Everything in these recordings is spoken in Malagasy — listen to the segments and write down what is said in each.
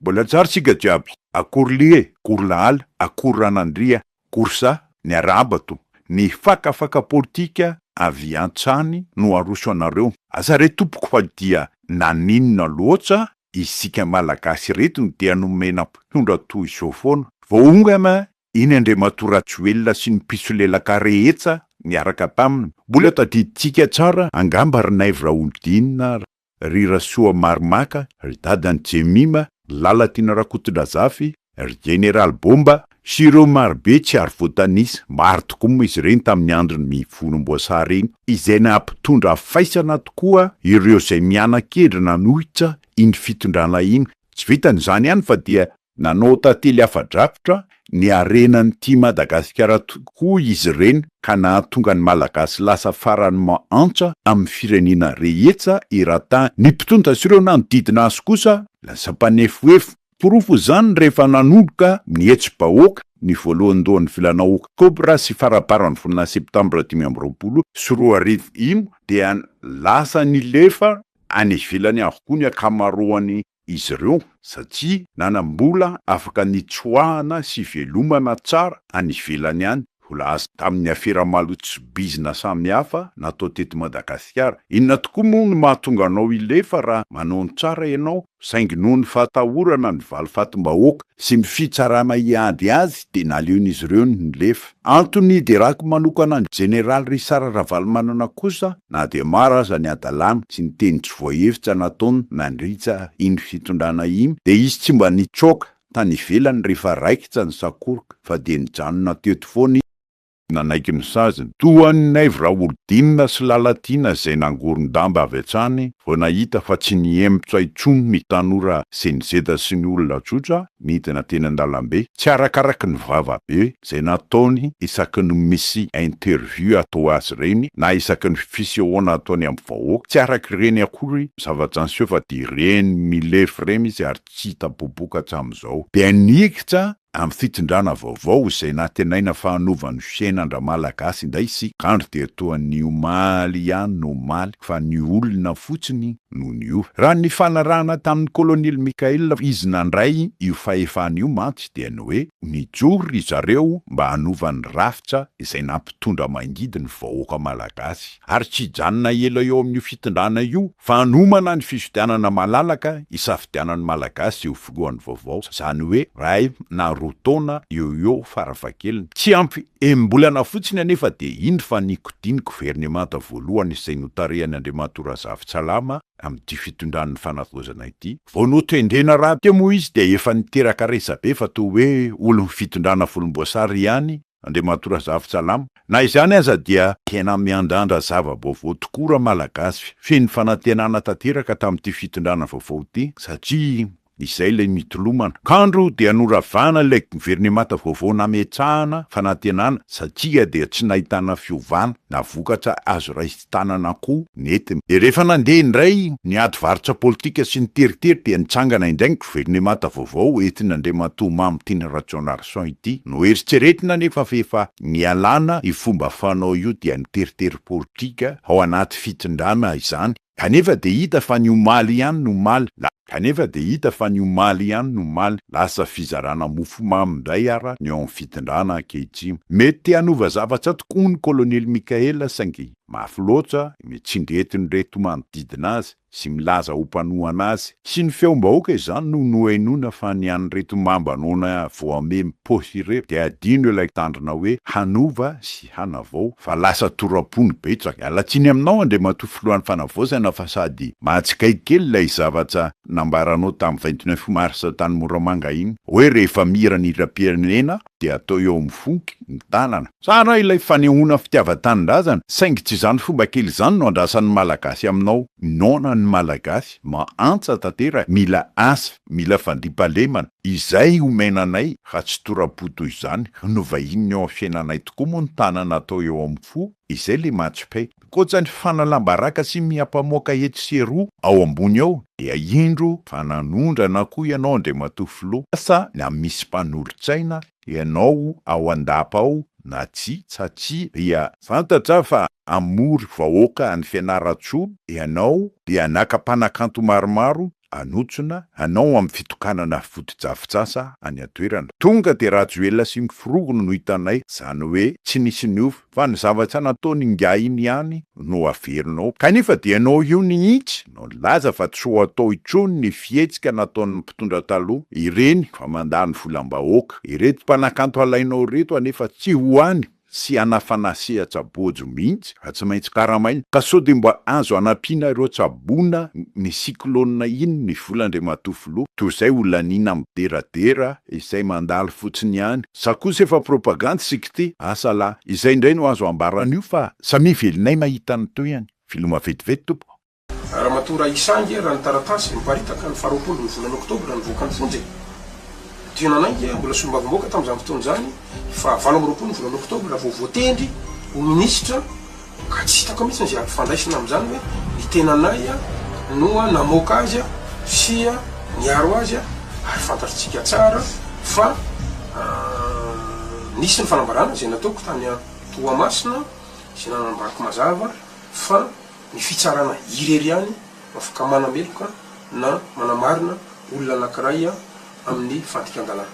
Mbola tsara tsika jiaby, akory lihy e, akory lahala, akory ranandria, akory sa, ny arahaba to, ny fakafaka politika avy antsany no aroso anareo, aza re tompoko fa dia naninona loatsa isika malagasy ireto no dia nomena mpitondra toy izao foana, vao onga ma iny Andriamatoa Rajoelina sy ny mpisolelaka rehetsa niaraka taminy, mbola tadidintsika tsara angamba ry Naivo Raholdina ry Rasoamaromaka, ry dadan'i Jemima, Lalatiana Rakotondrazafy, ry Jeneraly Bomba, sy ireo marobe tsy ary voatanisa, maro tokoa moa izy ireny tamin'ny andron'ny mivolomboasary iny, izay nampitondra faisana tokoa ireo izay miana-kendry nanohitra iny fitondrana iny, tsy vitan'izany ihany fa dia Nanao tantely afa-drakotra ny harenan'ity Madagasikara tokoa izy ireny ka nahatonga ny Malagasy lasa farany mahantra amin'ny firenena rehetra eran-tany. Ny mpitondra sy ireo nanodidina azy kosa lasa mpanefohefo. Porofo izany rehefa nanomboka ny hetsi-bahoaka ny voalohandohan'ny volana oktobra sy farabaran'ny volana septambra dimy amby roapolo sy roa arivo iny dia lasa nilefa any ivelany avokoa ny ankamaroan'ny izy ireo satria nanam-bola afaka nitsoahana sy ivelomana tsara any ivelany any, vola azo tamin'ny afera malotsy bizina samihafa natao teto Madagasikara. Inona tokoa moa no mahatonga anao hilefa raha manao ny tsara ianao saingy noho ny fahatahorana ny valifatim-bahoaka sy ny fitsarana hiady azy dia naleon'izy ireo ny nilefa. Antony hiderako manokana ny Jeneraly Richard Ravalomanana kosa na dia maro aza ny hadalana sy ny teny tsy voahevitsa nataony nandritsa iny fitondrana iny dia izy tsy mba nitsoaka tany ivelany rehefa raikitra ny sakoroka fa dia nijanona teto foana izy nanaiky ny saziny, toa an'i Naivo Raholdina sy Lalatiana izay nangoron-damba avy hatrany vao nahita fa tsy nihemotra intsony ny tanora senizeta sy ny olona tsotra nidina teny an-dalambe, tsy arakaraky ny vavabe izay nataony isaky ny misy interview atao azy ireny na isaky ny fisehoana ataony amin'ny vahoaka, tsy araka ireny akory ny zavatra niseho fa dia ireny milefy ireny izy ary tsy hita popoka hatramin'izao dia nikitra Amin'ny fitondrana vaovao izay nantenaina fa hanova ny fiainan-dRamalagasy indray sy kandry dia toa ny omaly ihany no omaly fa ny olona fotsiny no niova. Raha ny nifanarahana tamin'ny Kolonely Michael izy nandray io fahefana io mantsy dia ny hoe nijoro ry zareo mba hanova ny rafitra izay nampitondra mangidy ny vahoaka Malagasy. ary tsy hijanona ela eo amin'io fitondrana io fa hanomana ny fifidianana malalaka hisafidianan'ny Malagasy eo filohany vaovao, izany hoe iray na roa taona eo ho eo farafahakeliny, tsy ampy enim-bolana fotsiny anefa dia indro fa nikodiny ny governemanta voalohany izay notarihany Andriamatoa Razafintsalama amin'ity fitondran'ny fanavaozana ity. Vao notendrena rahateo moa izy dia efa niteraka resabe fa toa hoe olon'ny fitondrana volomboasary ihany Andriamatoa Razafintsalama. Na izany aza dia tena miandrandra zava-baovao tokoa ra Malagasy. Feno fanantenana tanteraka tamin'ity fitondrana vaovao ity satria izay ilay mitolomana. Kandro dia noravana ilay governemanta vaovao nametrahana fanantenana satria dia tsy nahitana fiovana na vokatra azo raisina. tanana koa nentiny. Dia rehefa nandeha indray ny ady varotra politika sy ny teritery dia nitsangana indray ny governemanta vaovao entin'Andriamatoa Mamy Tiana Rajaonarison ity. Noeritreretina anefa fa efa nialana io fomba fanao io dia ny teritery politika ao anaty fitondrana izany. Kanefa dia hita fa ny omaly ihany no omaly, na. Kanefa dia hita fa ny omaly ihany no omaly lasa fizarana mofomamy indray ara ny ao amin'ny fitondrana ankehitriny. Mety te hanova zavatra tokoa ny Kolonely Mickaël saingy mafy loatra ny tsindry entin'ireto manodidina azy sy milaza ho mpanohana azy sy ny feom-bahoaka izany no nohenoina fa ny an'ireto mamba noana voamemy paosy ireto dia adino ilay tandrina hoe hanova sy Ady Hanavao fa lasa toram-po ny betsaka. Miala tsiny aminao Andriamatoa Filohan'ny Fanavaozana fa sady mahatsikaiky kely ilay zavatsa nambaranao tamin'ny vingt neuf mars tany Moramanga iny hoe rehefa mihira ny hiram-pirenena dia atao eo amin'ny fonky ny tanana. Tsara ilay fanehoana fitiavan-tanindrazana saingy tsy izany fomba kely izany no andrasan'ny Malagasy aminao. Noana ny Malagasy, mahantra tanteraka, mila asa. Mila fandriampahalemana izay omena anay raha tsy tora-po toy izany no vahinin'ny eo amin'ny fiainanay tokoa moa ny tanana atao eo amin'ny fo izay le match pay. Ankoatra ny fanalam-baraka sy miha-mpamoaka etsy sy eroa ao ambony ao dia indro fa nanondrana koa ianao Andriamatoa Filoha asa na misy mpanolotsaina ianao ao an-dapa ao na tsia tsa tsia dia fantatra fa hamory vahoaka any Fianarantsoa ianao dia naka mpanakanto maromaro hanotsona hanao amin'ny fitokanana fotodrafitsasa any an-toerana. Tonga dia Rajoelina sy ny forongony no hitanay, izany hoe tsy nisy niova, fa ny zavatra nataony ingahy iny ihany no averinao. Kanefa dia ianao io mihitsy no nilaza fa tsy ho atao intsony ny fihetsika nataon'ny mpitondra taloha, ireny fa mandany volam-bahoaka. Ireto mpanakanto alainao ireto anefa tsy ho any. tsy hanafana sehatra bojo mihitsy fa tsy maintsy karamaina ka sao dia mba azo hanampiana ireo tsaboina ny cyclone iny ny vola Andriamatoa Filoha toy izay ho laniana mideradera izay mandalo fotsiny ihany sa kosa efa propagandy sy kty asa lah izay indray no azo ambara an'io fa samia velinay mahita ny toeany Filoha maventiventy tompoko. Ramatoa Rahisange raha ny taratasy niparitaka ny faharoapolo ny volana oktobra nivoaka ny fonja e! Dio nanainga mbola solombavamboaka tamin'izany fotoana izany fa valo amby roapolo ny volana oktobra vao voatendry ho minisitra ka tsy hitako mihitsy izay ampifandraisina amin'izany hoe ny tenanay no namoaka azy sy niaro azy ary fantatrtsika tsara fa nisy ny fanambarana izay nataoko tany Toamasina izay nanambako mazava fa Ny fitsarana irery ihany no afaka manameloka na manamarina olona anankiray amin'ny fandikan-dalàna.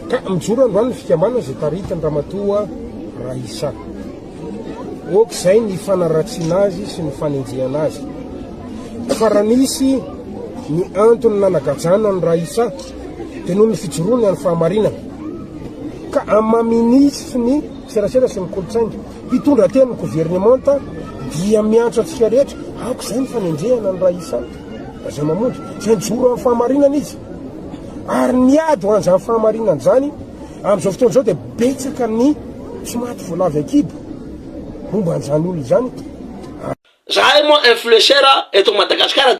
Ka mijoro androany ny fikambanana izay taritin' Ramatoa Raissa Ok izay ny fanaratsiana azy sy ny fanenjehana azy. Fa raha nisy ny antony nanagajana an'i Raissa dia noho ny fijoroany any fahamarinana. Ka amamy nitsy ny serasera sy ny kolontsaina. Mpitondra teo amin'ny governemanta dia miantso antsika rehetra, aoka izay ny fanenjehana ny Raisa Rajaomamonjy, izay mijoro amin'ny fahamarinana izy. Ary ny ady ho an'izany fahamarinana izany, amin'izao fotoana izao dia betsaka ny tsy maty voalavy an-kibo momba an'izany olona izany. Zahay moa influencer eto Madagascar dia.